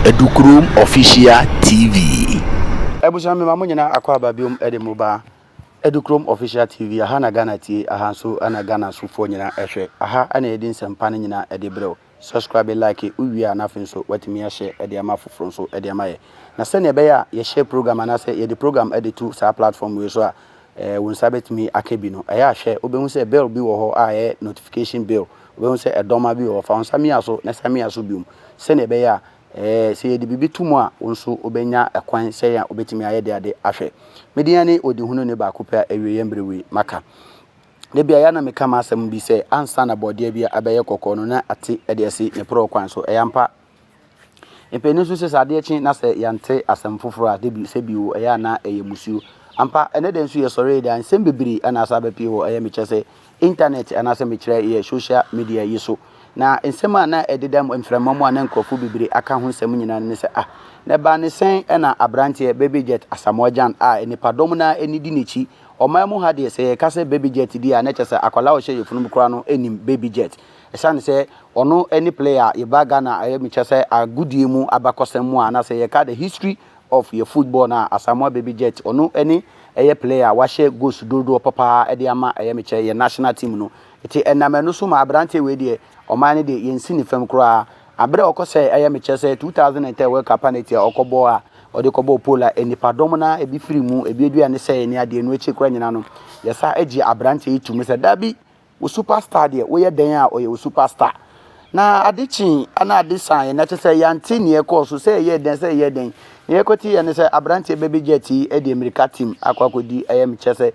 Adukurom Official TV. Abusua mema mo nyinaa akɔ aba biom de mo ba Adukurom Official TV. Aha na Ghana tie, aha nso na Ghana sofoɔ nyinaa ɛhwɛ. Aha na yɛde nsɛmpa no nyinaa de brɛ wo. Subscribe like wo wie a na afei nso watumi ahyɛ de ama afoforɔ nso de ama yɛ na sɛdeɛ ɛbɛyɛ a yɛhyɛ program anaasɛ yɛde program de to saa platform wei so a eh, wo nsa bɛtumi aka bi no ɛyɛ ahwɛ wobɛhu sɛ bill bi wɔ hɔ a ɛyɛ notification bill wobɛhu sɛ ɛdɔma bi wɔ hɔ fa wo nsa mia so na sa mia so biom sɛdeɛ ɛbɛyɛ a eh, sɛ yɛde biribi to mu a wo nso wobɛnya ɛkwan sɛ yɛn a wobɛtumi ayɛ de ade ahwɛ medin ne ɔdihunu ne baako pɛ a awieɛ mmerɛ wei maka Da bi a, ɛyɛ a na meka m'asɛm bi sɛ, ansa na bɔdeɛ bi abɛyɛ kɔkɔɔ no, na ate de asi ne porɔw kwan so. Ɛyɛ ampa. Mpanyin nso se sɛ adeɛ kye na sɛ yɛante asɛm foforo a, da bi sɛ bi o, ɛyɛ a na ɛyɛ mmusuo. Ampa, ɛnnɛ da nso yɛsɔre yi de a, nsɛm bebree na asan abɛpue wɔ ɛyɛ mekyɛ sɛ intanɛt anaasɛ mekyerɛ ɛyɛ sosial media yi so. Na nsɛm a na ɛdeda mu mframa mu a na nkurɔfo bebree aka ho nsɛm nyinaa no ne sɛ, ah, na ɛbaa ne sɛn na aberanteɛ Baby Jet Asamoah Gyan a nnipadɔm no ara ani di n'akyi Ɔman mu ha deɛ sɛ yɛka sɛ baby jet di a na ɛkyɛ sɛ akwadaa a ɔhyɛ yɛn funu mu koraa no nim baby jet. Ɛsiane sɛ ɔno ne player a yɛbaa Ghana a ɛyɛ me kyerɛ sɛ agodie mu abakɔsɛm mu a na sɛ yɛka the history of yɛn football no a Asamoah Baby Jet ɔno ne ɛyɛ player a wahyɛ goals dodoɔ papa ara de ama ɛyɛ me kyerɛ yɛn national team no. Nti ɛnam ɛno so ma aberanteɛ wei deɛ Ɔman no deɛ yɛnsi ne fam koraa. Aberɛ a ɔkɔsɛe ɛyɛ me kyɛ sɛ 2003 World Cup penalty a ɔkɔbɔɔ a ɔde kɔbɔɔ pole a nnipadɔm no ara ebi firi mu, ebi adua ne sɛeɛ ne adeɛ no akyiri koraa nyinaa no, yɛsan gyee aberanteɛ yi toom sɛ, Dabi, wo super star deɛ, woyɛ dɛn a ɔyɛ wo super star? Na ade kyee na ade saeɛ, na kyerɛ sɛ yɛante nea ɛkɔɔ so, sɛ ɛyɛɛ dɛn, sɛ ɛyɛɛ dɛn. Nea yɛkɔteeɛ ne sɛ aberanteɛ Baby Jet yi de mmirika team akɔ akɔdi ɛyɛ me kyɛ sɛ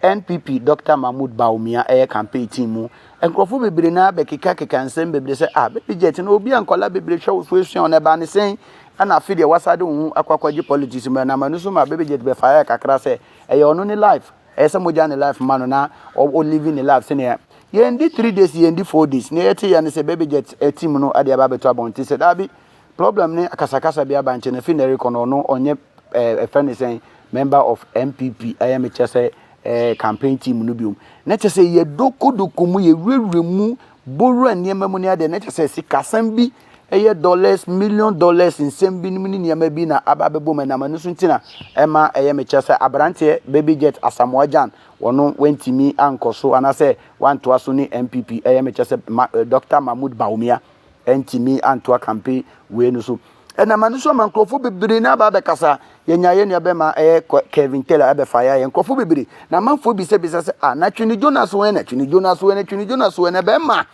NPP Dɔkta Mahmood Bawumia yɛ campaign team mu nkorɔfoɔ bebree naa bɛkeka keka nsɛm bebree sɛ ah baby jet no obi a nkwadaa bebree hwɛ wo so esua wo na ɛbaa ne sɛn ɛna afe deɛ wasa de wo ho akɔ akɔgye politics mu ɛnam ɛno so ma baby jet bɛ fire kakra sɛ ɛyɛ ɔno ne life ɛyɛ sɛ mogya ne life ma no na ɔ living ne life sɛnea yɛn di three days yɛn di four days na yɛte yɛ ne sɛ baby jet team no ɛde ɛba abɛto abɔnten sɛ daabi Problem ne akasakasa bi aba nkyɛ na efi nɛ rekɔ no ɔno ɔnyɛ ɛɛ ɛfɛ ne sɛn member of NPP ɛyɛ me kyɛ sɛ ɛɛ campaign team no biom. Na kyɛ sɛ yɛ doko doko mu yɛ wurawura mu bowura nneɛma mu ne adeɛ na kyɛ sɛ sikasɛm bi ɛyɛ dollars million dollars nsɛm bi nom ne nneɛma bi na aba abɛbɔ mu ɛnam ɛno so nti na ɛma ɛyɛ me kyɛ sɛ aberanteɛ baby jet Asamoah Gyan wɔno wantumi ankɔ so anaasɛ wantoa so ne NPP ɛyɛ me kyɛ sɛ ma, Doctor Mahmoud Bawumia. ɛntumi antoa kampe wei no so ɛnam ɛno so ama nkurɔfoɔ bebree na aba abɛkasa yɛnya yɛ nua bɛma ɛyɛ Kevin Taylor ɛbɛfa yɛ ayɛ nkurɔfoɔ bebree na amanfoɔ bisabisa sɛ a ah, na twene Jonas wɛn na twene Jonas wɛn na twene Jonas wɛn na bɛma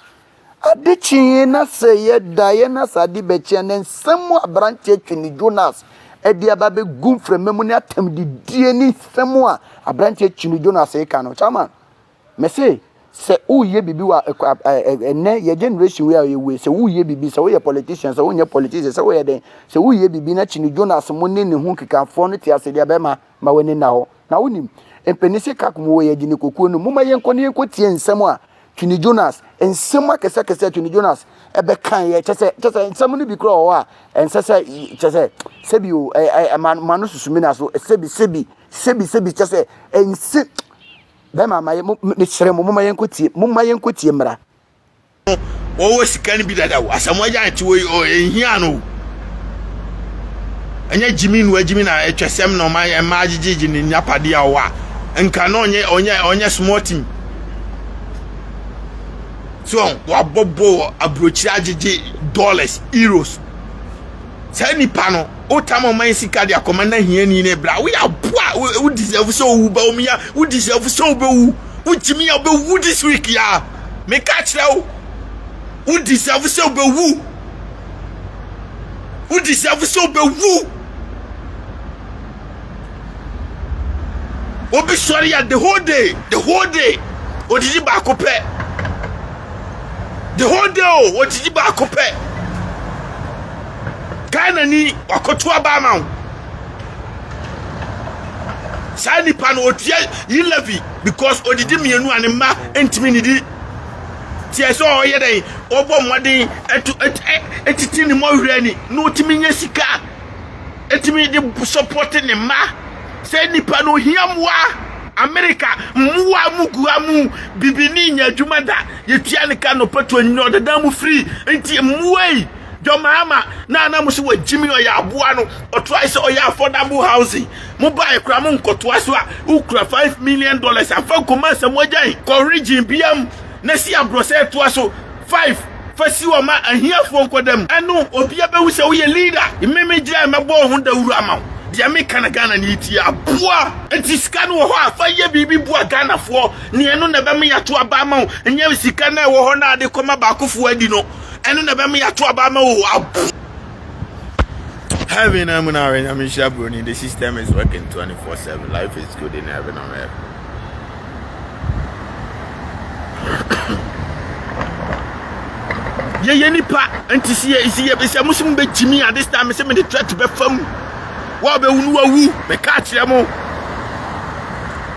ade kyee na sɛ yɛda yɛ na sɛ ade bɛkyea na nsɛm mu aberanteɛ twene Jonas ɛde aba bɛgu mframa mu ne atam didie ne nsɛm a aberanteɛ twene Jonas ɛka no chairman Me se sɛ woyɛ biribi wɔ ɛnɛ yɛ generation wei a yɛ wei sɛ woyɛ biribi sɛ woyɛ politician sɛ wonyɛ politician sɛ woyɛ dɛn sɛ woyɛ biribi na kyini jonas mo ne ne ho nkekafoɔ no te ase deɛ bɛma ma w'ani nna hɔ na wonim mpani se kak mu wɔ yɛ gyini kokuo no moma yɛnkɔ ne yɛnkɔ tie nsɛm a twini jonas nsɛm akɛsɛ akɛsɛ twini jonas ɛbɛkan yɛ kyɛ sɛ kyɛ sɛ nsɛm no bi korɔ wɔ hɔ a ɛnsɛ sɛ kyɛ sɛ sɛbi o ɛma no susumi na so sɛbi sɛbi sɛbi sɛbi kyɛ sɛ ɛnsɛ Bɛrima ma yɛ mo mesrɛ mo momma yɛnkɔtie momma yɛnkɔtie mmara. Wɔwɔ sika no bi dada o asɛm wɔgya nte wɔ yi o ɛnhia no o ɛnyɛ gyimi nua gyimi na ɛtwa sɛm na ɔma yɛ mmaa gyegyegye ne nyapadeɛ a ɔwɔ a nka na ɔnyɛ ɔnyɛ ɔnyɛ small team so wɔabɔbɔ wɔ aburokyire agyegye dollars euros Saa nipa no, wotam ɔma yɛ sika de akɔma na hiani ne bra. Woyɛ aboa, wo deserve sɛ owu ba omi ya, wo deserve sɛ obewu. Wotumi ya obewu this week ya. Meka kyerɛ wo, wo deserve sɛ obewu. Wo deserve sɛ obewu. Obi sɔre a the whole day, the whole day, odidi baako pɛ. The whole day o, oh, odidi baako pɛ. Ghana ni wakoto aba ama wo. Saa nipa no otua yi levy because odidi mmienu a ne mma ntumi nidi. Tiɛ sɛ ɔyɛ dɛn, ɔbɔ mmɔden ɛtu ɛtiti ne mɔwerɛ ni na otumi nye sika. ɛtumi de sɔpɔte ne mma sɛ nnipa no hia mmoa amerika mmoa mu gua mu bibi ne nya adwuma da yɛtua ne ka nɔpa to anyini ɔdada mu firi nti mmoa yi dɔmaama na ana mo so wɔ gyimi ɔyɛ aboa no ɔtoae sɛ ɔyɛ affordable housing mo ba ɛkora mo nkɔtoa so a wokura 5 million dollars afa nkɔma asɛmɔgyan kɔ region biam na si aborɔsɛ toa so Five, Fa si hɔ ma ahiafoɔ nkɔda mu. Ɛno obia bɛhu sɛ woyɛ leader. Me me gyae mɛbɔ wo ho dawuro ama wo. Deɛ meka na Ghana ni tie. Aboa! Nti sika no wɔ hɔ a, fa yɛ biribi boa Ghanafoɔ. Nea ɛno na ɛbɛma yɛato aba ama wo. Nyɛ sika no a ɛwɔ hɔ no a de kɔma baakofoɔ adi no. Ɛno na ɛbɛma yɛato aba ama wo. Aboa! Heaven amu na awɛ nyame nhyira broni this system is working 24 seven life is good in heaven on earth. yɛyɛ nipa nti si yɛ si yɛ sɛ mo si mo bɛ gyimi a this time sɛ mi de threat bɛ fam wɔ bɛ wu no wɔ wu mɛ kaa kyerɛ mo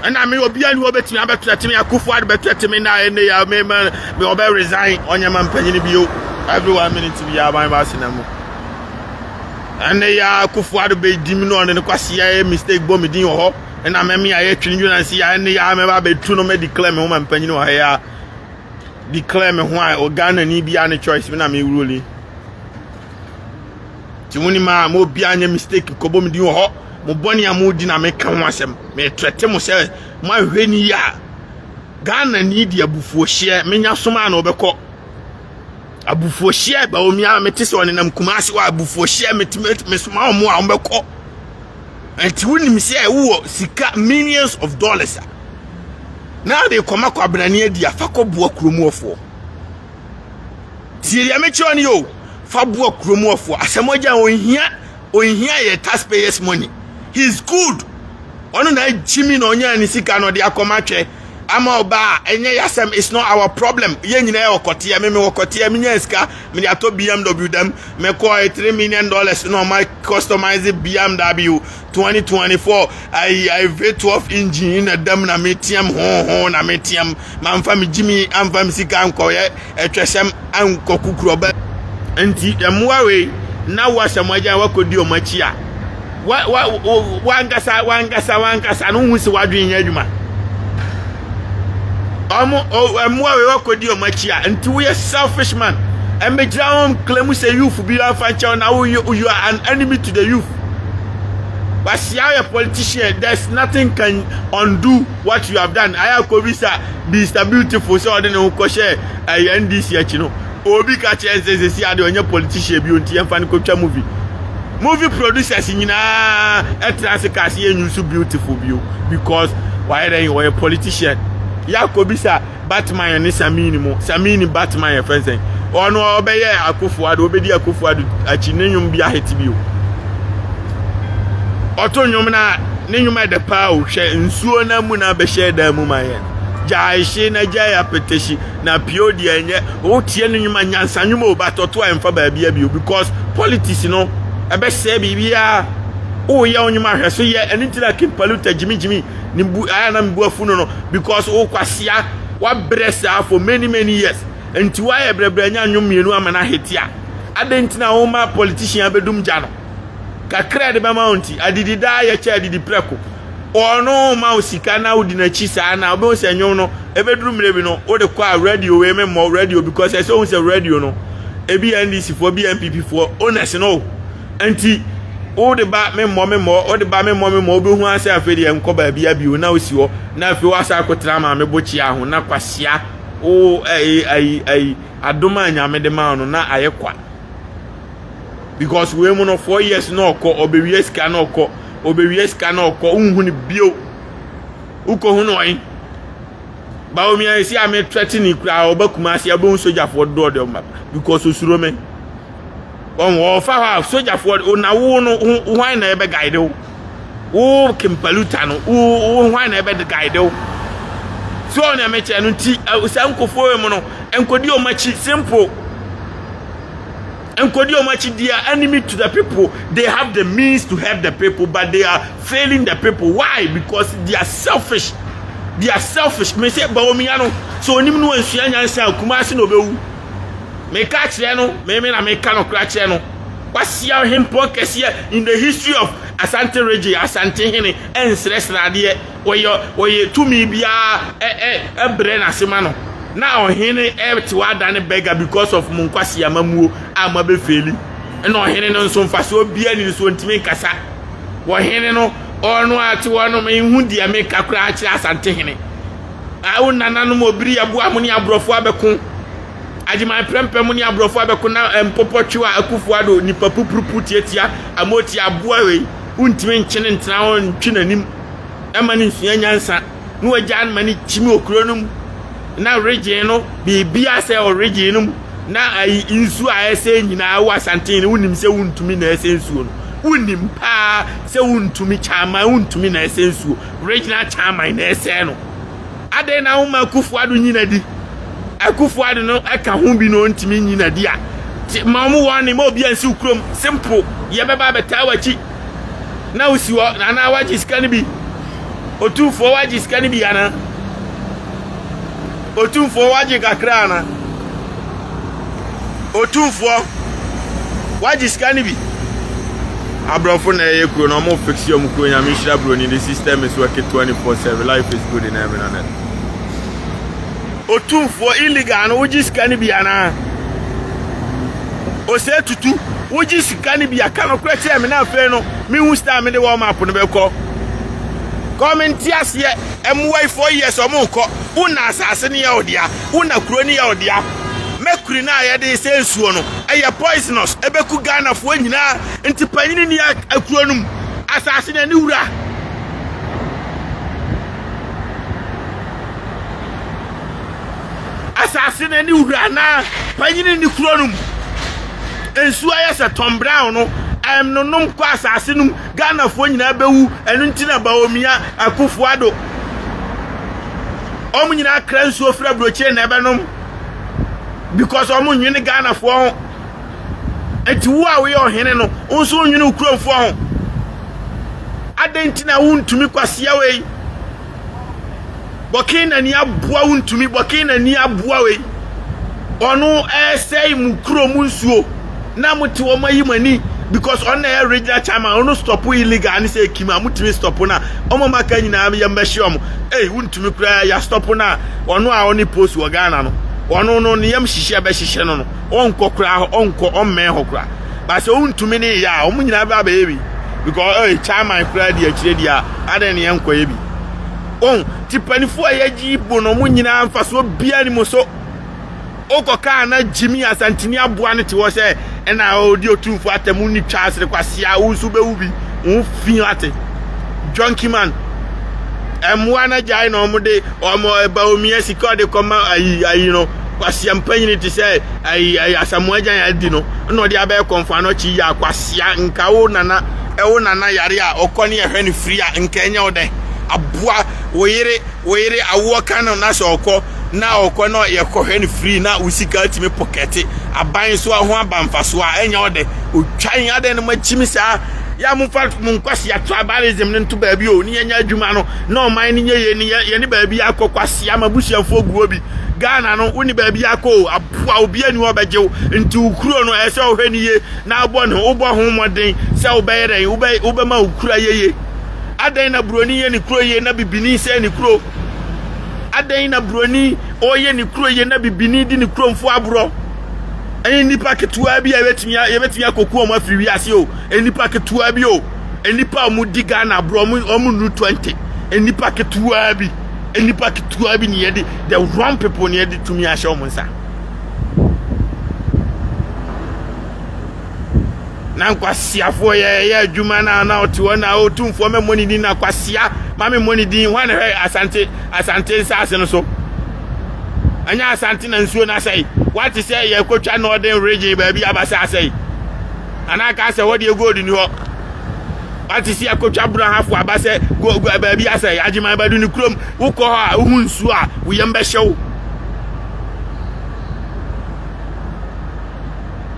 ɛna mi obi ani wɔ bɛ tumi abɛ threat mi akufo adi bɛ threat mi na ɛne ya mi ma mi ɔbɛ resign ɔnyɛ ma mpanyin bi o every one minute bi ya aban ba asena mu ɛne ya akufo adi bɛ di mi na ɔne ne kwasi yɛ mistake bɔ mi din wɔ hɔ. ɛna mɛme yɛ ayɛ twene dwena si yɛ ne yɛ mɛba abɛtu no mɛ declare me ho ma mpanyin wɔ ha yɛ a declare me ho a wɔ ghana ni bia ne choice me na me wuroli ti mo ni ma mo bia nyɛ mistake kɔbɔ me din wɔ hɔ mo bɔne a mo di na me ka ho asɛm me trɛte mo sɛ mo ahwɛ ni yɛ a ghana ni di abufuo hyeɛ menya soma a na ɔbɛkɔ abufuo hyeɛ ba omi a mete sɛ ɔnenam kumase wɔ abufuo hyeɛ mete mesoma ɔmo a ɔmbɛkɔ Nti wonim sɛ wowɔ sika millions of dollars a na wode kɔma kwabenani adi a fa kɔboa kuromuɔfoɔ tie deɛ mekyerɛ no yɛ fa boa kuromuɔfoɔ asɛm agya ɔnhia ɔnhia yɛ taxpayers money he is good ɔno na agyimi na ɔnyaa ne sika na ɔde akɔma twɛ ama ɔba a ɛnyɛ yɛ asɛm it's not our problem yɛ nyinaa yɛ ɔkɔteɛ meme ɔkɔteɛ menya sika mede atɔ bmw dam Me kɔɛ three million dollars na ɔma customize bmw twenty twenty four ayi ayi v twelve engine na dam na me tiam hoho na me tiam ma nfa me gyimi anfa me sika nkɔyɛ ɛtwɛsɛm ankɔ kukurɔbɛ nti mmoa wei na woasɛm agyan wakɔdi ɔmo akyi a wankasa wankasa wankasa no hu si wadwene nyɛ adwuma ɔmo mmoa wei wakɔdi ɔmo akyi a nti woyɛ selfish man ɛmɛgyina ho nkla mu sɛ youth bi afa nkyɛw na woyɛ you are an enemy to the youth wasia yɛ politician there's nothing can undo what you have done ayɛ akɔbi sa Mr Beautiful sɛ ɔde ne ho kɔhyɛ ɛyɛ eh, NDC akyi no Obi ka kyerɛ sɛ sɛsi ade ɔnyɛ politician bio nti yɛmfa no kɔtwa movie. Movie producers nyinaa ɛtena ase ka ase yɛ nyusu beautiful bio because wayɛ dɛn ɔyɛ politician. Yɛakɔ bisa Batman ne Samini mu. Samini Batman yɛ fɛn sɛn. Ɔno ɔbɛyɛ akofo ado, ɔbɛdi akofo ado akyi ne nnwom bi ahete bio. Ɔto nnwom na ne nnwom ɛdɛ paa o hwɛ nsuo na mu na bɛhyɛ dan mu ma yɛn. Gyae hye na gyae apɛtɛhyi na pio deɛ ɛnyɛ wotie no nnwuma nyansa nnwuma o but ɔto a ɛmfa baabi abio because politics no ɛbɛsɛe biribiara woyɛ wo nnwuma hwɛ so yɛ ɛno nti na kimpaluta gyimigyimi ne bu ayɛ na mebu afu no no because wokwasia wabrɛ saa for many many years nti woayɛ brɛbrɛ nya nnwom mmienu ama no ahete a adɛn nti na woma politician bɛdum gya no kakra de bɛma wo nti adidi daa yɛkyɛ adidi prɛko ɔno ma wo sika na wodi n'akyi saa na wobɛhu sɛ nnwom no ɛbɛduru mmerɛ bi no wode kɔ a radio wei me mmɔ radio because ɛsɛ wohu sɛ radio no ebi yɛ ndc foɔ bi yɛ npp foɔ owners no o nti wode ba me mmɔ me mmɔ wode ba me mmɔ me mmɔ wobɛhu asɛ afei deɛ nkɔ baabi abio na wosi hɔ na afei woasa akɔtena ma me bokyea ho na kwasia wo ayi ayi ayi adom a nyame de ma no na ayɛ kwa because wei mu no four years na ɔkɔ ɔbɛwie sika na ɔkɔ Obewie sika na ɔkɔ, wonhu no bio. Wokohu no ɔhen? Baomia esi a me threaten ni kura ɔba kuma ase a wobɛhu sogyafoɔ dodoɔ de ɔma because osuro me. Wɔn wɔfa hɔ a sogyafoɔ na wo no hwan na ɛbɛ guide wo? Wo kempaluta no wo hwan na ɛbɛ guide wo? So ɔne ɛmɛkyɛ no nti saa nkofoɔ mu no nkɔdi ɔma akyi simple. Nkɔdi wɔn akyi they are enemy to the people they have the means to help the people but they are failing the people why because they are selfish they are selfish me sɛ bawomia no sɛ onim no ansua nyansa akuma ase na obewu meka akyerɛ no meme na meka no kora kyerɛ no wasia hempɔn kɛseɛ in the history of asante region asante hene ɛnsrɛsrɛ adeɛ wɔyɛ wɔyɛ tumi biara ɛ ɛ ɛbrɛ n'ase ma no na ɔhene ɛte wada ne bɛga because of mo nkwasi amamuo a mo abɛfeeli ɛna ɔhene no nso mfasoɔ biara ni so ntumi nkasa wɔhene no ɔno ate hɔ no mehu deɛ meka koraa kyerɛ asante hene awo nananom obiri aboa mo ne aborɔfo abɛko agyeman prɛmpɛ mo ne aborɔfo abɛko na mpopɔ twe a akufo ado nipa pupurupu tiatia amotia aboa wei wontumi nkyene ntena ntwe n'anim ma no nsua nyansa na wagyaa no ma no kyim wɔ kuro no mu na regyen no biribiara sɛ ɔregyen no mu na ayi nsuo a ɛsɛ nyinaa wɔ asanten no wonim sɛ wontumi na ɛsɛ nsuo no wonim paa sɛ wontumi kyaman wontumi na ɛsɛ nsuo regyen kyaman na ɛsɛ no adɛn na woma akufo ado nyina di akufo ado no ɛka ho bi na ɔntumi nyina di a ma ɔmo wɔne ma obi ansiw kurom simple yɛbɛba abɛtaa w'akyi na wosi hɔ anaa wagye sika no bi otumfoɔ wagye sika no bi anaa otumfoɔ wagye kakra anaa otumfoɔ wagye sika no bi aborɔfo na ɛyɛ kuro na wɔn fix wɔn kuro nyame nhyira buroni the system is working twenty four seven life is good in heaven and earth. Otumfoɔ illegal no wogye sika no bi anaa? Osei Tutu, wogye sika no bi a, ka nokorɛ kyerɛ me na afei no menhu side a mede wɔn map no bɛkɔ. Kɔ mente aseɛ. Mmoa yi four years ɔmo nkɔ. Wo na asase no yɛ wo dea. Wo na kuro no yɛ wo dea. Mercury no a yɛde sɛ nsuo no, ɛyɛ poisonous. Ɛbɛku Ghanafoɔ nyinaa. Nti panyini ni akuro no mu. Asase no ɛne wura. Asase no ne wura anaa panyin nni kuro no mu. Nsuo ayɛ sɛ Tom Brown no, ɛnonom kɔ asase no mu. Ghanafoɔ nyinaa bɛwu, ɛno nti na Bawumia, Akufo Addo, wɔn nyinaa kra nsuo firi aburokyire na ɛbɛnom because wɔn nwene Ghanafoɔ ho. Nti wo a woyɛ ɔhene no, wo nso nwene wo kuromfoɔ ho. Adɛn nti na wontumi kwasea wei? Bɔkee na ni aboa wo ntumi bɔkee na ni aboa wei ɔno ɛsɛe mu kuro mu nsuo na mo te wɔn ayi mo ani because ɔno na ɛyɛ regional chairman ɔno stop illegal ne sɛ ekim a mo tumi stop na wɔn maka nyinaa yɛ mbɛhyɛ wɔn ee wo ntumi koraa yɛ stop na ɔno a ɔne post wɔ Ghana no ɔno no ne yam hyehyɛ bɛhyehyɛ no no ɔnkɔ koraa ɔnkɔ ɔmmɛn hɔ koraa. ba sɛ wontumi ne yɛ a wɔn nyinaa bɛba bɛyɛ bi because ɛyɛ chairman koraa di akyire di a adan ne yɛn nkɔyɛ bi wɔn ti panifoɔ a yɛgye bo no wɔn nyinaa mfasoɔ bia ne mu so wokɔ kaa na gyimi asantini aboa no te hɔ sɛ ɛna ɔdi otumfo atɛm ne twa asere kwasea wo nso bɛwu bi wo fi ate junkie man ɛmmoa no agyae na wɔn de wɔn ɛba omiɛ sika ɔde kɔma ayi ayi no kwasea mpanyini te sɛ Ayi ayi asamoa gyan adi no na ɔde abɛyɛ kɔnfoa no ɔkye yia kwasia nka wo nana ɛwo nana yare a ɔkɔ ne ɛhwɛ no firi a nka ɛnyɛ wo dɛ aboa wo yere wo yere awoɔ ka no na sɛ ɔkɔ na ɔkɔ na yɛkɔhwɛ no firi na wo sika atumi pɔkɛte aban so ho aba mfasoɔ a ɛnyɛ wo dɛ ɔtwan adɛn no makyimi saa yɛ mo fa mo nkwasia tribalism no nto baabi o ne yɛnya adwuma no na ɔman no nyɛ yɛ ne yɛ ne baabi akɔ kwasia ma busuafoɔ guo bi Ghana no, wonni baabi akɔ o, aboa obiara ni hɔ ɔbɛgye wo. Nti wo kuro no ɛyɛ sɛ ɔhwɛ no yie na abɔ ne ho wobɔ ho mmɔden sɛ wobɛyɛ dɛn wobɛ wobɛma wo kuro ayɛ yie. Adɛn na buroni yɛ ne kuro yie na bibini sɛe ne kuro? Adɛn na buroni ɔyɛ ne kuro yie na bibini di ne kuromfo aborɔ? Ɛyɛ nnipa ketewa bi a yɛbɛtumi yɛbɛtumi akɔku wɔn afiri wiase o. Nnipa ketewa bi o. Nnipa a wɔdi Ghana aborɔ wɔn wɔn nnu twenty. Nnipa ketewa bi. nnipa ketewa bi ne yɛde the wrong people ne yɛde tumi ahyɛ wɔn nsa na nkwasiafoɔ yɛyɛ adwuma na na ɔte hɔ na ɔtumfoɔ mɛmmɔ ne din na kwasia ma memmɔ ne din hɔ na hwɛ asante asante nsaase no so ɛnyɛ asante na nsuo no asɛe wate sɛ yɛkɔtwa northern region baabi abasa asɛe anaa kaa sɛ hɔ deɛ gold ni hɔ Wate si akotwa brahafo aba sɛ baabi asɛe, agyeman bɛdo ne kurom. Wokɔ hɔ a wohu nsuo a wo yam bɛhyɛ wo.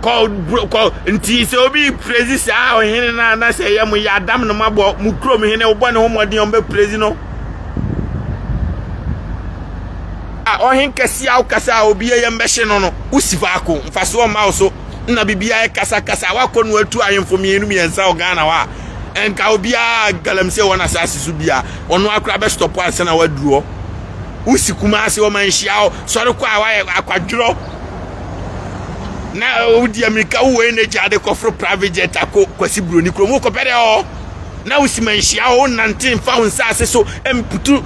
Kɔ kɔ nti sɛ obi prezi saa ɔhene no a na sɛ ɛyɛ mo yɛ adam no mabɔ mo kurom hene wobɔ ne ho mmɔden a ɔmbɛprezi no. A ɔhen kɛse a wokasa a obi yɛ yam bɛhyɛ no no wosi faako mfasoɔ mma wo so. na biribiara yɛ kasakasa wakɔ no atu ahemfo mmienu mmiɛnsa wɔ ghana hɔ a nka obiara galamsey wɔn asase so bia ɔno akora bɛstɔpo ansa na waduru hɔ wosi kuma ase wɔn anhyia hɔ sɔre kɔ a wayɛ akwadworɔ na wodi amirika wowɔ energy ade kɔforo private jet akɔ kwasi buroni kurom wokɔpɛ dɛ hɔ na wosi ma nhyia hɔ wonante mfa wo nsa ase so mputu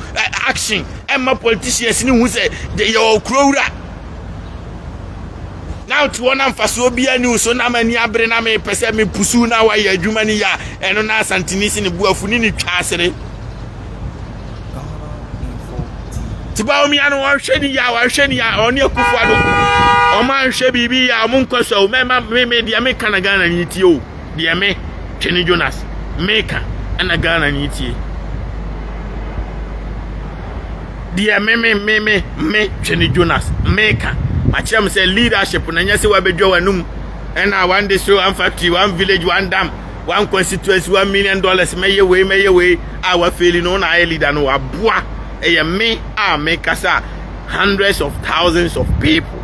action ɛmma politicians ne hu sɛ yɛwɔ kuro wura na ɔte hɔ na mfasoɔ biara ni wo so na m'ani abere na mepɛ sɛ mepusu na wayɛ adwuma no yɛ a ɛno na asantini si ne boafu ne ne twa asere nti baomia no ɔnhwɛ ne yɛ a ɔnhwɛ ne yɛ a ɔne akufo ado ɔma nhwɛ biribi yɛ a ɔmo nkɔ so o mɛma me me deɛ meka na ghana ni tie o deɛ me, Twene Jonas, meka ɛna Ghana ni tie. Deɛ me, me, me, me, me, Twene Jonas, meka. Makyerɛ mo sɛ leadership na nyɛ sɛ wabɛdwa w'anum ɛna one district, one factory, one village, one dam, one constituency, one million dollars, mɛyɛ wei, mɛyɛ wei, a wafeeli no, na ayɛ leader no, waboa. Ɛyɛ me a mekasa hundreds of thousands of people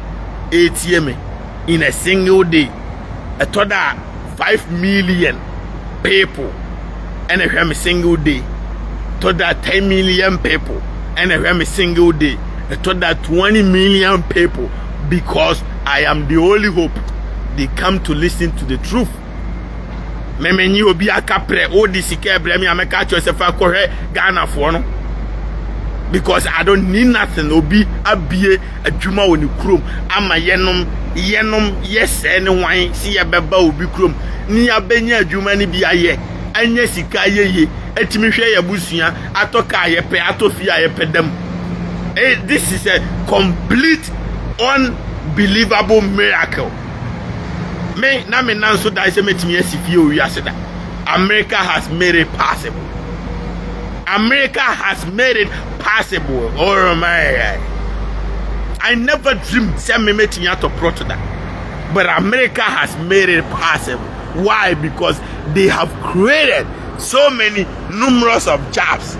ɛtie me. in a single day ɛtɔ da a five million people ɛna ɛhwɛ me single day ɛtɔ da ten million people ɛna ɛhwɛ me single day ɛtɔ da twenty million people because i am the only hope they come to listen to the truth mɛmɛnyi obi aka prɛ o de sika ɛbrɛ mi a mɛka kyerɛ sɛ fa kɔhwɛ ghanafoɔ no because i don't need nothing obi abie adwuma wɔ ne kurom ama yɛnom, yɛnom yɛ sɛɛ ne hwan se yɛbɛba obi kurom ne yɛabɛnya adwuma no bi ayɛ, anya sika ayɛ yie, atumi hwɛ yɛn abusua, atɔ kaa a yɛpɛ, atɔ fie a yɛpɛ da mu. Eh, this is a complete unbelievable miracle. Me, na me nan so dae sɛ mɛtumi asi fie wɔ wiase da. America has made it possible. America has made it possible oh my i never dreamed sɛ memetumi atɔ prɔto da but america has made it possible why because they have created so many numerous of jobs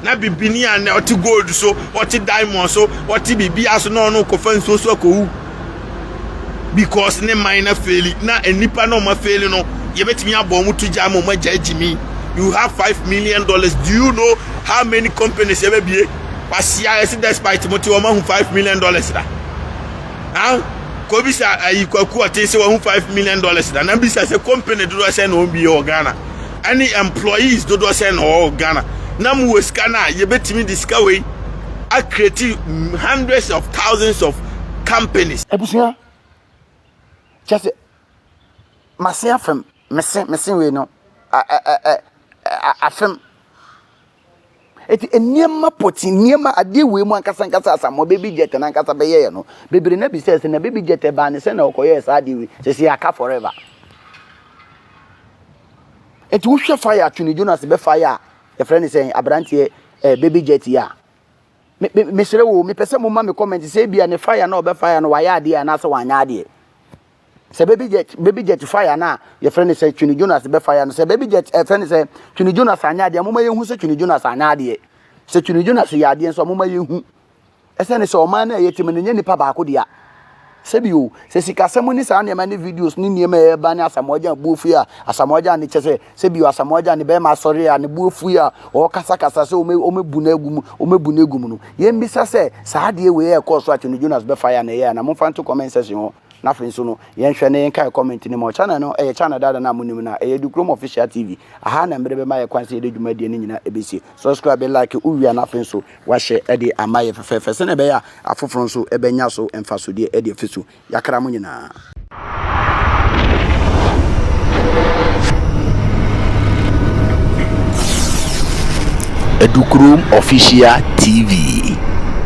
na bibini a na ɔte gold so ɔte diamond so ɔte biribi aso na ɔno kɔfa nsuo so akɔwu because ne man na faili na nnipa na ɔma faili no yɛbɛtumi abɔ ɔmo to gya ama ɔmo agya agyimi you have five million dollars do you know how many companies yɛbɛbie wasia ɛsi despite mo te ɔmo ahu five million dollars da ah kobi sa ayi kwaku ɔte sɛ wɔn ho five million dollars da na bisa sɛ company dodoɔ sɛ na wɔn bi wɔ ghana ɛne employees dodoɔ sɛn na ɔwɔ wɔ Ghana na mowɔ sika no a yɛbɛtumi de sika wei acreate hundreds of thousands of companies. abusua kyɛ sɛ mase afem mese mese wei no afem Enti nneɛma pɔtee, nneɛma adeɛ wei mu ankasa ankasa asamoah baby jet no ankasa bɛyɛɛ no. Bebree na bisa sɛ na baby jet ɛbaa ne sɛ na ɔkɔyɛɛ saa adeɛ wei. Sɛ sɛ aka forever. Enti wohwɛ fire a Tony Jonas bɛ fire a yɛfrɛ ne sɛn aberanteɛ ɛɛ eh, baby jet yi a. Me me mesrɛ wo mepɛ sɛ mo ma me comment sɛ ebia ne fire na ɔbɛ fire no wayɛ adeɛ anaasɛ wanyɛ adeɛ. sɛ baby jet baby jet fire na yɛfrɛ no sɛ twene jonas bɛ fire no sɛ baby jet ɛfrɛ eh, no sɛ twene jonas anyɛ adeɛ moma yɛhu sɛ twene jonas anyɛ adeɛ sɛ twene jonas yɛ adeɛ nso moma yɛhu ɛsɛ ne sɛ ɔman no a ɛyɛ tim no nyɛ nipa baako dea sɛbi o sɛ sikasɛm ne saa nneɛma ne videos ne nneɛma a ɛba ne asamoagya buo fui a asamoagya ne kyɛ sɛ sɛbi o asamoagya ne bɛrima asɔre a ne buo fui a ɔrekasakasa sɛ ɔmɛbu no agu mu ɔmɛbu no agu mu no yɛmmisa sɛ saa adeɛ wei ɛkɔɔ so a twene jonas bɛfa yɛ a na ɛyɛ a na momfa nto comment section hɔ Na afei nso no, yɛnhwɛ na yɛnkae comment no mu. Channel no yɛ channel dada no a monim no a, ɛyɛ Dukurom Official TV. Aha na mmere bɛma yɛ kwan sɛ yɛde dwumadie no nyinaa ɛbɛsie. Subscribe, like, wowie a na afei nso wahyɛ de ama yɛ fɛfɛɛfɛ sɛdeɛ ɛbɛyɛ a afoforɔ nso bɛnya so mfasodeɛ de afi so. Yɛakra mo nyinaa. Edukurom Official TV.